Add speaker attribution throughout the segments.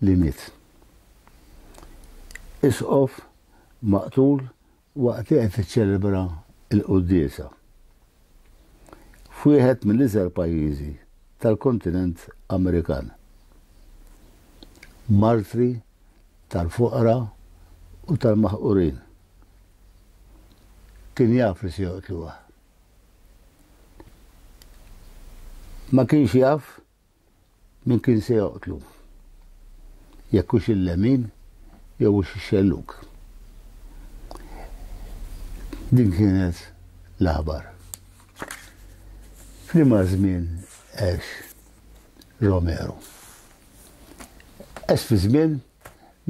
Speaker 1: li miet. Isqof maqtul waqt li qed tiċċelebra l-quddiesa f'wieħed mill-iżgħar pajjiżi tal-kontinent Amerikan. Martri tal-foqra u tal-maħqurin. Kien jaf li se joqtluha. Ma kienx jaf Min kien se joqtlu? Jekk hux il-lemin jew hux ix-xellug. Din kienet l-aħbar. F'liema żmien għex Romero? Għex fi żmien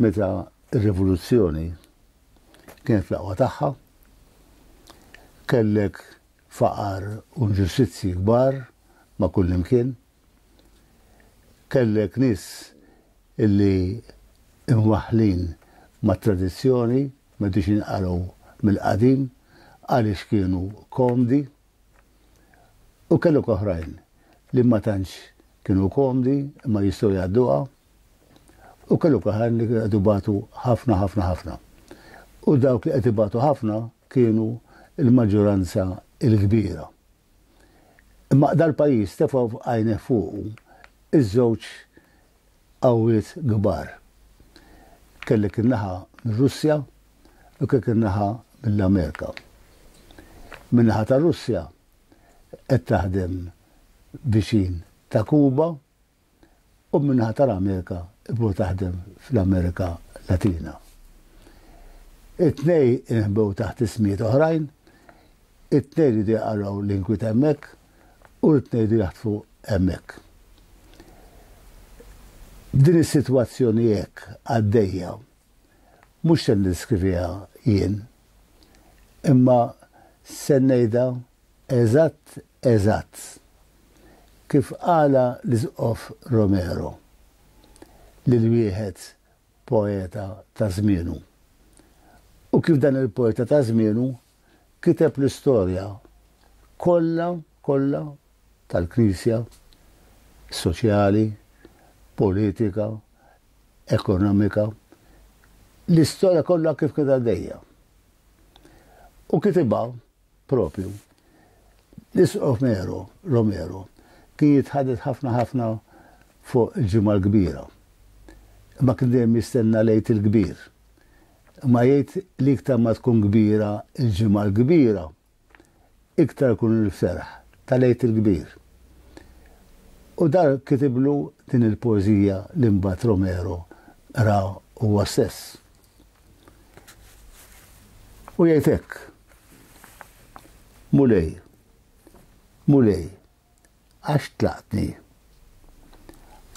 Speaker 1: meta r-rivoluzzjoni kienet fl-aqwa tagħha, kellek faqar u nġustizzji kbar ma' kullimkien. Kellek nies li imwaħħlin mat-tradizzjoni, ma jridux jinqalgħu mill-qadim għaliex kienu komdi. U kellok oħrajn li ma tantx kienu komdi imma jistgħu jgħadduha. U kellok oħrajn li qed ibatu ħafna, ħafna, ħafna. U dawk li qed ibatu ħafna kienu l-maġġoranza l-kbira. Imma dal-pajjiż tefa' għajnejh fuqu ż-żewġ qawwiet kbar. Kellek in-naħa mir-Russja u kellek in-naħa mill-Amerika. Min-naħa tar-Russja qed taħdem viċin ta' Kuba, u min-naħa tal-Amerika bdew taħdem fl-Amerika Latina. It-tnejn inħbew taħt ismijiet oħrajn, it-tnejn riedu jaqalgħu l-inkwiet hemmhekk u t-tnejn riedu jaħtfu hemmhekk. Din is-sitwazzjoni hekk għaddejja mhux se niddeskriviha jien, imma se ngħidha eżatt Eżatt. Kif qalha l-Isqof Romero lil wieħed poeta ta' żmienu. U kif dan il-poeta ta' żmienu kiteb l-istorja kollha, kollha tal-Knisja, soċjali, politika, ekonomika, l-istorja kollha kif kienet għaddejja. U kitibha Proprju. L-Isqof Mero, Romero, kien jitħadet ħafna ħafna fuq il-Ġimgħa l-Kbira. Imma kien dejjem jistenna l-Għid il-Kbir. Imma jgħid li iktar ma tkun kbira l-Ġimgħa l-Kbira, iktar ikun il-ferħ tal-Għid il-Kbir. U dar kitiblu din il-poeżija li mbagħad Romero qra huwa stess. U jgħid hekk. Mulej, mulej, għax tlaqtni.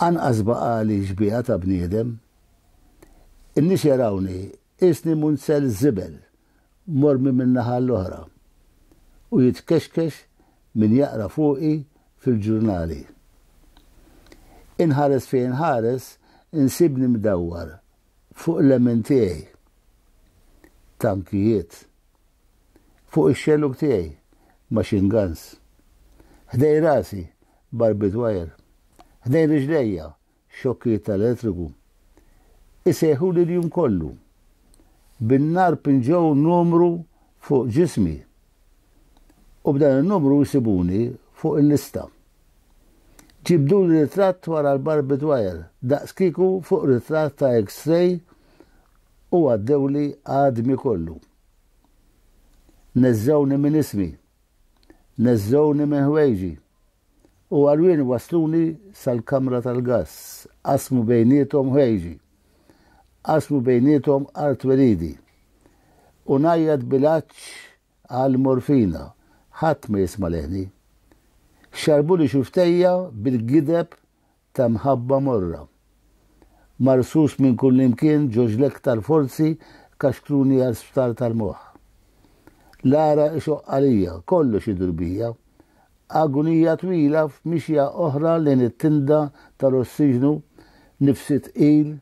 Speaker 1: Anqas baqali xbieha ta' bniedem. In-nies jarawni isni munzel żibel mormi min-naħa l-oħra u jitkexkex min jaqra fuqi fil-ġurnali. Inħares fejn inħares insibni mdawwar fuq l-emmen tiegħi, tankijiet, fuq ix-xellug tiegħi, machine guns, ħdejn rasi, barbed wire, ħdejn riġlejja, xokkijiet tal-elettriku, isejħuli l-jum kollu. Bin-nar pinġew numru fuq ġismi u b'dan in-numru jsibuni fuq il-lista. Ġibduli ritratt wara l-barbed wire, daqskieku fuq ritratt ta' X-ray u għaddewli għadmi kollu. Neżżgħuni minn ismi. Neżżgħuni minn ħwejġi. U għarwien wassluni sal-kamra tal-gass. Qasmu bejniethom ħwejġi. Qasmu bejniethom artweridi. U ngħajjat bil-għatx Għal morfina, ħadd ma jisma' leħni. Xarrbuli xuftejja bil-gideb ta' mħabba morra. Marsus minn kullimkien ġo ġl-iktar forzi kaxkruni għal sptar tal-moħħ. L-għaraq ixoqq għalija, kollox idur bija. Agunija twila f'mixja oħra lejn it-tinda tal-ossiġnu, nifsi tqil,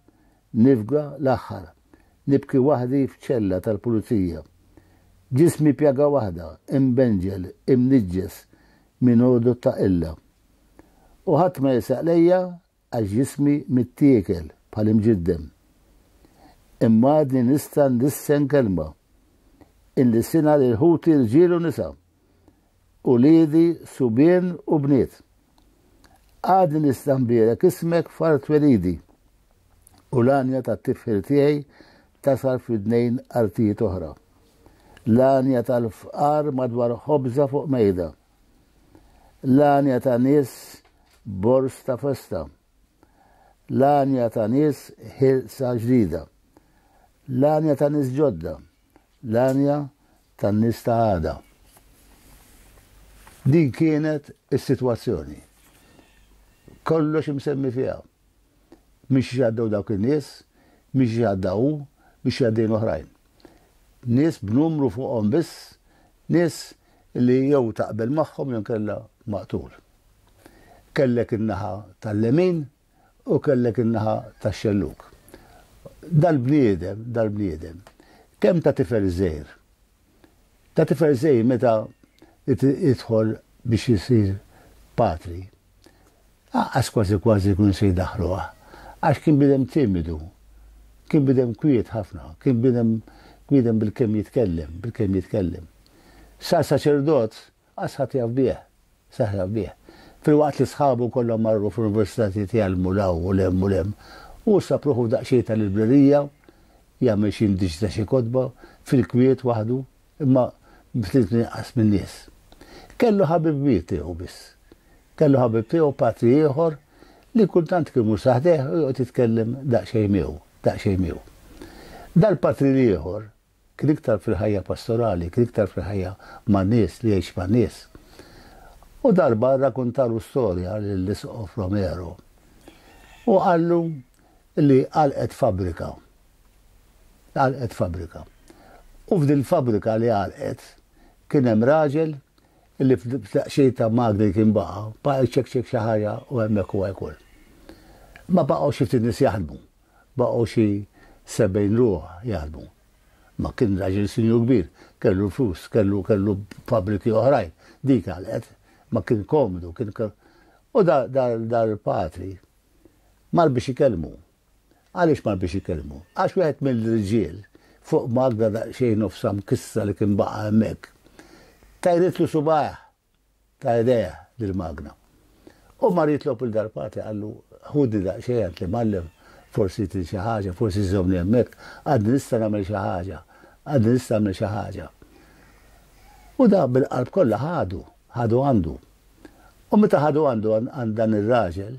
Speaker 1: Nifga l-aħħar. Nibki waħdi f'ċella tal-pulizija. Ġismi pjaga waħda, imbenġel, imniġġes minn għodod ta' qilla. U ħadd ma jisaq lejja għax ġismi mittiekel bħal imġiddem. Imma għadni nista' ndissen kelma. Inlisinha lil ħuti rġiel u nisa. uliedi subien u bniet. Għadni nista' nbierek ismek f'art twelidi u l-għanja tat-tifħir tiegħi tasal f'widnejn artijiet oħra. L-għanja tal-fqar madwar ħobża fuq mejda. L-għanja ta' nies bors ta' festa. L-għanja ta' nies ħilsa ġdida. L-għanja ta' nies ġodda L-għanja tan-nies ta' għada. Din kienet is-sitwazzjoni. Kollox imsemmi fiha. Minn xiex għaddew dawk in-nies, minn xiex għadda hu, minn xi għaddejn oħrajn. Nies b'numru fuqhom biss, nies li jew taqbel magħhom jew inkella maqtul. Kellek in-naħa tal-lemin, u kellek in-naħa tax-xellug. Dal-bniedem, dal-bniedem, kemm ta' tifel żgħir, ta' tifel żgħir meta jidħol biex isir patri, anqas kważi kważi jkunu se jdaħħluh, għax kien bniedem timidu, kien bniedem kwiet ħafna, kien bniedem bniedem bil-kemm jitkellem, bil-kemm jitkellem. Sar saċerdot Qas ħadd jaf bih. Seħħ jaf bih. Filwaqt li sħabu kollha marru fl-universitajiet jgħallmu 'l hawn u 'l hemm u 'l hemm, hu ssab ruħu f'daqsxejn ta' librerija, jagħmel xi indiċ ta' xi kotba, fil-kwiet waħdu, imma ftit inqas min-nies. Kellu ħabib kbir tiegħu biss. Kellu ħabib tiegħu patri ieħor li kultant kien imur sa ħdejh u joqgħod jitkellem daqsxejn miegħu, daqsxejn miegħu. Dal-patri l-ieħor kien iktar fil-ħajja pastorali, kien iktar fil-ħajja man-nies, li jgħix man-nies. U darba rrakuntalu storja lill-Isqof Romero u qallu li għalqet fabbrika. Għalqet fabbrika. U f'din fabbrika li għalqet kien hemm raġel li f'daqxej ta' magni kien baqa, baqa jċekċek xi ħaġa u hemmhekk huwa jkun. Ma baqgħu xi ftit nies jaħdmu. baqgħu xi sebgħin ruħ jaħdmu. Ma kien raġel sinjur kbir, kellu l-flus, kellu kellu fabbriki oħrajn, dik għalqet, ma kien komdu, kien u dal-patri mar biex ikellmu. Għaliex mar biex ikellmu? Għax wieħed mill-irġiel fuq Magda daqsxejn nofsa mkissra li kien baqa' hemmhekk, tajritlu subajh ta' idejha dil-magna. U mar jitlob lil Darpati qallu, Ħudni daqsxejn għand l-imgħallem, forsi trid xi ħaġa, forsi żżommni hemmhekk, għadni nista' nagħmel xi ħaġa, għadni nista' nagħmel xi ħaġa. U dak bil-qalb kollha ħadu, ħadu għandu. U meta ħadu għandu għand dan ir-raġel,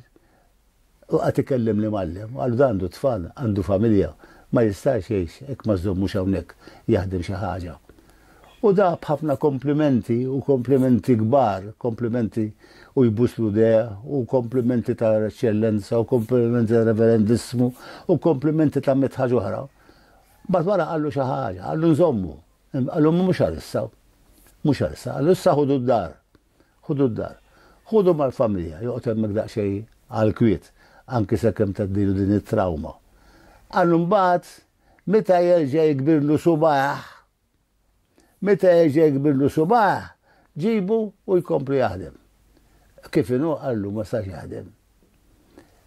Speaker 1: U qagħad ikellem l-imgħallem, u qallu dan għandu tfal, għandu familja, ma jistax jgħix hekk ma żżommux hawnhekk jaħdem xi ħaġa. U dah b'ħafna komplimenti, u komplimenti kbar, komplimenti u jbusslu idejh, u komplimenti ta' Eċċellenza, u komplimenti ta' Reverendissmu, u komplimenti ta' mitt ħaġa oħra. Mbagħad wara qallu xi ħaġa, qallu nżommu. Qallu mhux għal issa. Mhux għal issa. Qallu issa ħudu d-dar. Ħudu d-dar. Ħudu mal-familja, joqgħod hemmhekk daqsxejn għall-kwiet, anki sakemm tgħaddilu din it-trawma. Għal mbagħad, meta jerġa' jikbirlu subgħajh, meta jerġa' jikbirlu subgħajh, ġibu u jkompli jaħdem. Kif inhu qallu ma sax jaħdem.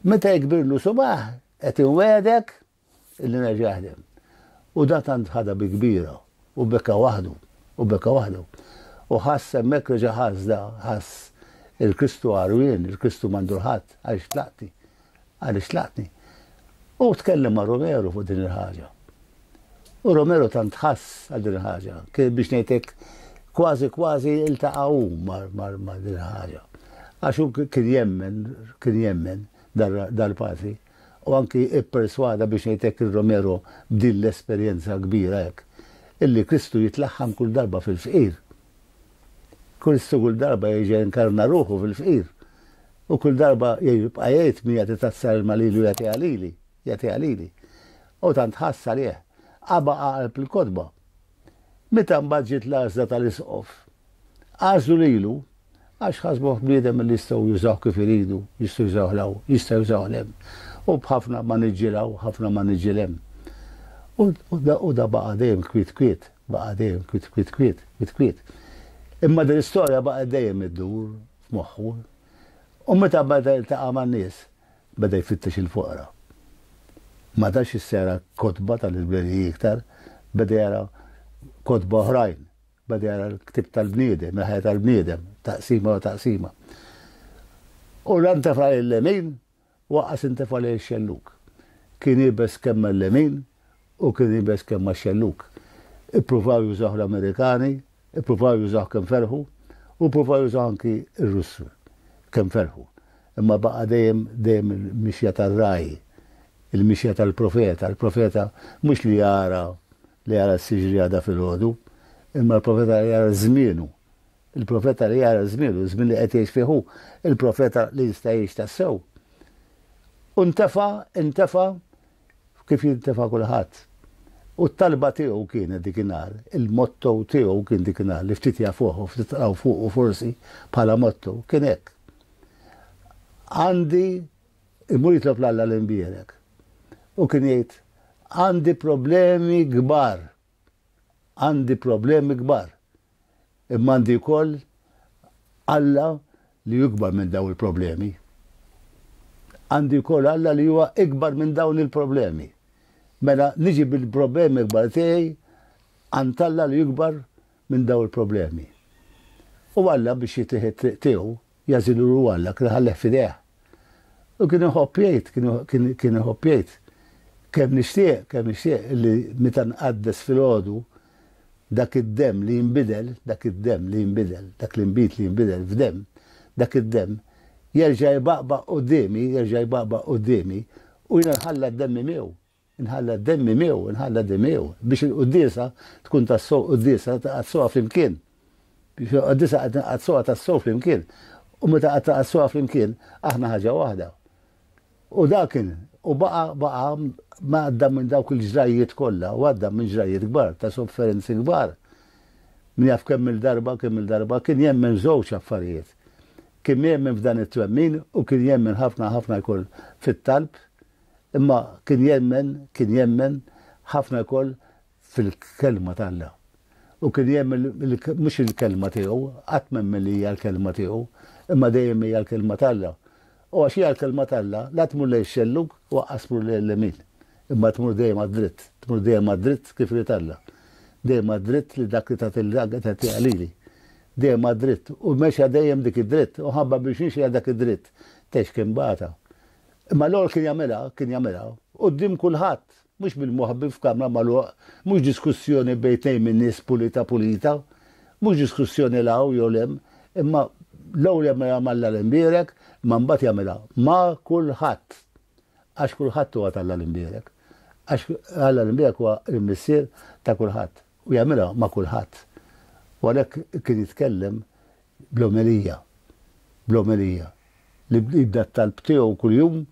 Speaker 1: Meta jikbirlu subgħajh, qed inwegħdek, Illi ngħid jaħdem. U da tant ħadha bi kbira, u beka waħdu, u beka waħdu. U ħass hemmhekk reġa' ħass da, ħass il-Kristu għarwien, il-Kristu m'għandu l-ħadd, għaliex tlaqtni, għaliex tlaqtni. U tkellem ma' Romero fuq din il-ħaġa. U Romero tant ħass għal din il-ħaġa, kien biex ngħidlek kważi kważi iltaqa' hu ma' din il-ħaġa. Għax hu kien jemmen, kien jemmen dal-patri. u anki pperswada, biex ngħid hekk, ir-Romero b'din l-esperjenza kbira hekk, illi Kristu jitlaħħam kull darba fil-fqir. Kristu kull darba jerġa' jinkarna ruħu fil-fqir. U kull darba jibqa' jgħid min jagħti tazza ilma lilu jagħtiha lili, jagħtiha lili. U tant ħass għalih. Aba' qalb il-kotba. Meta mbagħad ġiet l-għażla tal-Isqof, għażlu lilu għax ħasbuh bniedem li jistgħu jużawh kif iridu, jistgħu jużawh 'l hawn, jistgħu jużawh 'l hemm, u b'ħafna maniġġi 'l hawn, ħafna maniġġi 'l hemm. U da baqa' dejjem kwiet kwiet, baqa' dejjem kwiet kwiet kwiet, kwiet kwiet. Imma din l-istorja baqgħet dejjem iddur f'moħħu. U meta beda jiltaqa' man-nies, Beda jfittex il-foqra. Ma tax issa jara kotba tal-libreriji iktar, beda jara kotba oħrajn, beda jara l-ktieb tal-bniedem, il-ħajja tal-bniedem, taqsima wara taqsima. U la ntefa' lejn lemin u aqqas intefa' lejn ix-xellug. Kien iebes kemm mal-lemin Hu kien iebes kemm max-xellug. Ippruvaw jużawh l-Amerikani, ippruvaw jużawh kemm ferħu, u ppruvaw jużawh anki r-Russi kemm ferħu. Imma baqa' dejjem, dejjem il-mixja tar-ragħaj, il-mixja tal-profeta. Il-profeta mhux li jara, li jara s-siġri għada filgħodu, imma l-profeta li jara żmienu. Il-profeta li jara żmienu, iż-żmien li qed jgħix fih hu, il-profeta li jista' jgħix tassew. U ntefa', intefa', kif jintefa' kulħadd. U t-talba tiegħu kienet dikinhar, il-motto tiegħu kien dikinhar li ftit jafuh u ftit qraw fuqu forsi bħala motto, kien hekk. Għandi imur jitlob l-Alla l-imbierek. U kien jgħid għandi problemi kbar għandi problemi kbar, imma għandi wkoll Alla li hu ikbar minn dawn il-problemi. Għandi wkoll Alla li huwa ikbar minn dawn il-problemi. Mela niġi bil-problemi kbar tiegħi għand Alla li ikbar minn dawn il-problemi. U Alla biex jitieħ it-triq tiegħu Jagħżilulu Alla, kien iħalleh f'idejh. U kien iħobb jgħid, kien iħobb jgħid, Kemm nixtieq, kemm nixtieq li meta nqaddes filgħodu, dak id-demm li jinbidel, dak id-demm li jinbidel, dak l-inbid li jinbidel f'demm, dak id-demm jerġa' jbaqbaq quddiemi, jerġa' jbaqbaq quddiemi, u jiena nħalla d-demmi miegħu. Inħalla d-demmi miegħu, inħalla demi miegħu, biex il-quddiesa tkun tassew quddiesa taqaddsuha flimkien. Biex il-quddiesa qed nqaddsuha tassew flimkien. U meta qed taqaddsuha flimkien, aħna ħaġa waħda. U dakin, u baqa baqa ma għadda minn dawk il-ġrajiet kollha, u għadda minn ġrajiet kbar, ta' sofferenzi kbar. Min jaf kemm il-darba, kemm il-darba, kien jemmen żewġ affarijiet. Kien jemmen f'dan it-twemmin u kien jemmen ħafna ħafna jkun fit-talb Imma kien jemmen, kien jemmen ħafna wkoll fil-Kelma t'Alla. U kien jemmen li mhux il-Kelma tiegħu, qatt m'emmen li hija l-Kelma tiegħu, imma dejjem hija l-Kelma t'Alla. U għax hija l-Kelma t'Alla, la tmur lejn ix-xellug u aqqas tmur lejn l-lemin, imma tmur dejjem għad-dritt, tmur dejjem għad-dritt kif irid Alla. Dejjem għad-dritt li dak li tagħtilha qed tagħtiha lili. Dejjem għad-dritt. U mexja dejjem dik id-dritt. U ħabba biex mexja dak id-dritt, tgħix kien bagħatha. Imma l-għol kien jagħmilha, kien jagħmilha, quddiem kulħadd, mhux bil-moħbi f'kamra magħluq, mhux diskussjoni bejn tnejn min-nies pulita pulita, mhux diskussjoni 'l hawn jew 'l hemm, imma l-ewwel jagħmilha m'Alla l-Imbierek, imma mbagħad jagħmilha ma' kulħadd. Għax kulħadd huwa t'Alla l-Imbierek. Għax Alla l-Imbierek huwa l-Missier ta' kulħadd u jagħmilha ma' kulħadd. U għalhekk kien jitkellem bl-omelija, bl-omelija, li jibda t-talb tiegħu kuljum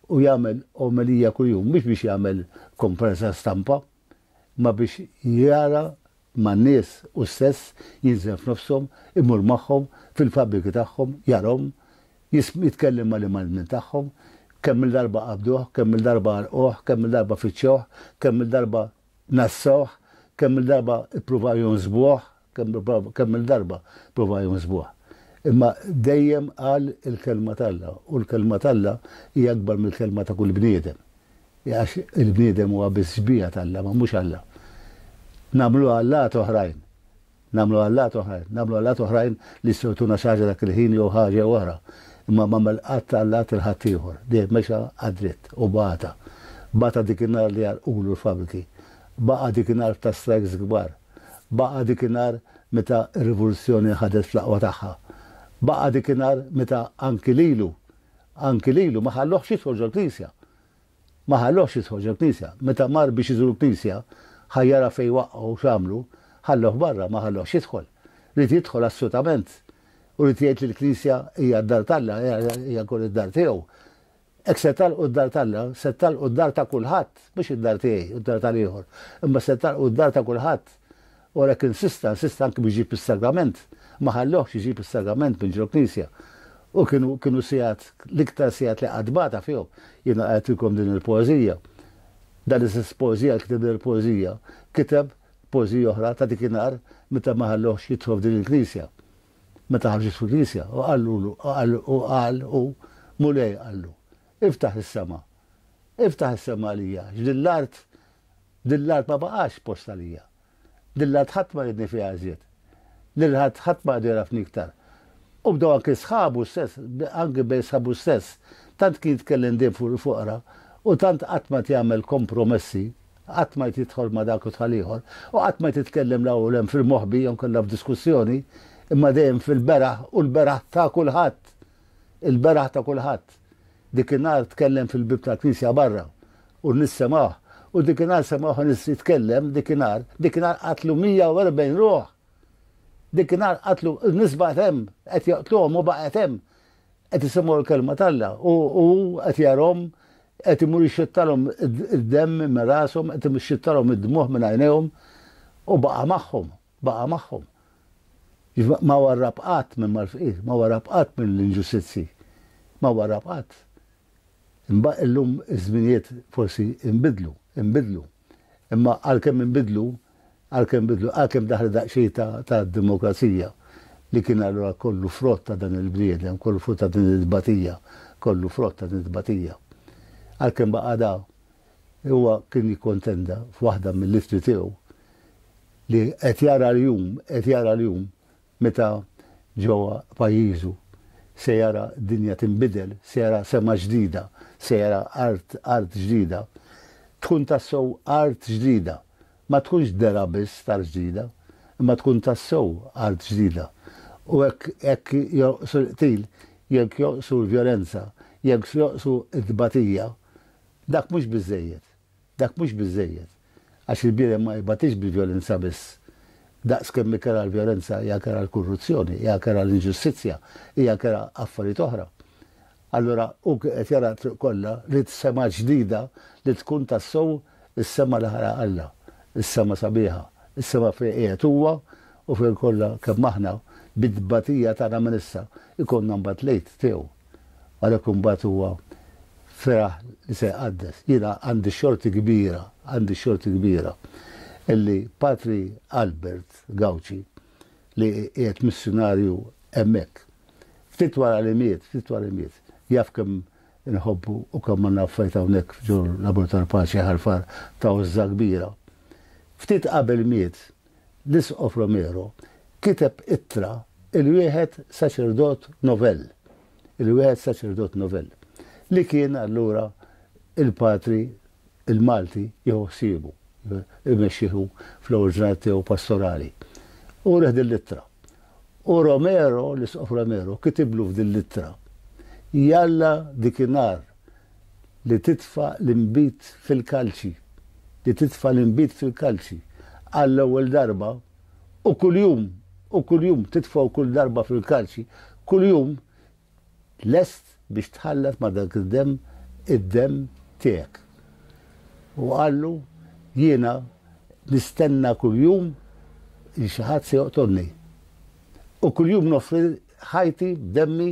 Speaker 1: u jagħmel omelija kuljum, mhux biex jagħmel komparsa stampa, imma biex jara man-nies hu stess, jinżel f'nofshom, imur magħhom fil-fabbriki tagħhom, jarahom, jitkellem mal-imgħallmin minn tagħhom, kemm-il darba qabduh, kemm-il darba għarrquh, kemm-il darba fittxewh, kemm-il darba ngħassawh, kemm-il darba ppruvaw jonsbuh, Kemm-il darba prova jħosbuh, imma dejjem qal il-Kelma t'Alla, u l-Kelma t'Alla hi akbar mill-kelma ta' kull bniedem, għax il-bniedem huwa biss xbieha t'Alla, ma mhux Alla. Nagħmlu allat oħrajn, nagħmlu allat oħrajn, nagħmlu allat oħrajn li jistgħu jtuna xi ħaġa dak il-ħin jew ħaġa jew oħra, imma m'għamel qatt allat 'il ħaddieħor, dejjem mexa għad-dritt u bata. Bata dik in-nhar li għalqulu l-fabbriki, baqa' dik in-nhar ta' strikes kbar. Baqa' dik in-nhar meta r-Rivoluzzjoni ħadet fl-aqwa tagħha. Baqa' dik in-nhar meta anki lilu, anki lilu ma ħalluhx jidħol ġol-Knisja. Ma ħalluhx jidħol ġol-Knisja. Meta mar biex iżur l-Knisja, ħa jara fejn waqqgħu u x'għamlu, ħalluh barra, ma ħalluhx jidħol. Ried jidħol assutament. U ried jgħid li l-Knisja hija d-dar t'Alla, hija wkoll id-dar tiegħu. Hekk se tagħlqu d-dar t'Alla, se tagħlqu d-dar ta' kulħadd, mhux id-dar tiegħi u d-dar tal-ieħor, imma se tagħlqu d-dar ta' kulħadd. U għalhekk insista, insista anki biex ġib is-sagrament, ma ħallewhx iġib is-sagrament minn ġol-knisja. U kienu, kienu sigħat, l-iktar sigħat li qatt bata fihom. Jiena qrajtilkom din il-poeżija. Dan l-istess poeżija li kiteb din il-poeżija, kiteb poeżija oħra ta' dikinhar meta ma ħallewhx jidħol f'din il-knisja. Meta ħarġet fil-knisja, u qallulu, u qal hu, Mulej, qallu, Iftaħ is-sema. Iftaħ is-sema għalija, għax din l-art, din l-art ma baqax post għalija. Din l-art ħadd ma riedni fiha iżjed. Lil ħadd ħadd ma għadu jagħrafni iktar. U bdew anki sħabu stess, anki bejn sħabu stess, tant kien jitkellem dejjem fuq il-foqra, u tant qatt ma jagħmel kompromessi Qatt ma jtidħol ma' dak u tal-ieħor, u qatt ma jtitkellem la hawn u l-hemm fil-moħbi jew inkella f'diskussjoni, imma dejjem fil-beraħ u l-beraħ ta' kulħadd. Il-beraħ ta' kulħadd. Dik in-nhar tkellem fil-bieb tal-knisja barra, u n-nies semgħuh, u dik in-nhar semgħuh nies jitkellem, dik in-nhar, dik in-nhar qatlu 140 ruħ! Dik in-nhar qatlu, n-nies baqgħet hemm, qed joqtluhom u baqgħet hemm. qed isemgħu l-kelma t'Alla u hu qed jarahom qed imur jixxittalhom id-demm minn rashom, qed ixxittalhom id-dmugħ minn għajnejhom u baqa' magħhom, baqa' magħhom. Ma warrab qatt minn mal-fqir, ma warrab qatt mill-inġustizzji, ma warrab qatt. Imma illum iż-żminijiet forsi inbidlu, inbidlu. Imma għalkemm inbidlu, għalkemm inbidlu, għalkemm daħlet daqsxejn ta' ta' demokrazija li kien allura kollu frott ta' dan il-bniedem, kollu frott ta' din it-tbatija, kollu frott ta' din it-tbatija. Għalkemm baqa' da, huwa kien jikkontenda f'waħda mill-ittri tiegħu li qed jara l-jum, qed jara l-jum Meta ġewwa pajjiżu se jara dinja tinbidel, se jara sema ġdida, se jara art art ġdida. Tkun tassew art ġdida. Ma tkunx dergħa biss t'art ġdida, imma tkun tassew art ġdida. U hekk hekk jonqsu l-qtil, jekk jonqsu l-vjolenza, jekk jonqsu t-tbatija, dak mhux biżżejjed. Dak mhux biżżejjed, għax il-bniedem ma jbatix bil-vjolenza biss. Daqs kemm hi kerha l-vjolenza, hija kerha l-kurruzzjoni, hija kerha l-inġustizzja, hija kerha affarijiet oħra. Allura hu kien qed jara t-triq kollha li t-sema ġdida li tkun tassew is-sema li ħalaq Alla, is-sema sabiħa, is-sema fejn qiegħed huwa u fejn kollha kemm aħna, bit-tbatija tagħna minn issa, ikollna mbagħad l-Għid tiegħu. Għalhekk imbagħad huwa feraħ li se jqaddes. Jiena għandi xorti kbira, għandi xorti kbira illi Patri Albert Gauci li qiegħed missjunarju hemmhekk, ftit wara li miet, ftit wara li miet, jaf kemm inħobbu u kemm għandna affarijiet hawnhekk ġol-Laboratorju tal-Paċi Ħal Far ta' għożża kbira. Ftit qabel miet, l-Isqof Romero kiteb ittra il-wieħed saċerdot novell, il-wieħed saċerdot novell, li kien allura il-patri il-Malti jieħu ħsiebu, imexxih hu fl-ewwel ġranet tiegħu pastorali. U reh din l-ittra. U Romero, l-Isqof Romero, kitiblu f'din l-ittra. Jalla dikinhar li titfa' l-inbid fil-kalċi, li titfa' l-inbid fil-kalċi, għall-ewwel darba, u kuljum, u kuljum, titfgħu kull darba fil-kalċi, kuljum, lest biex tħallat ma' dak id-demm, id-demm tiegħek. U qallu, Jiena nistenna kuljum li xi ħadd se joqtolni. U kuljum noffri ħajti b'demmi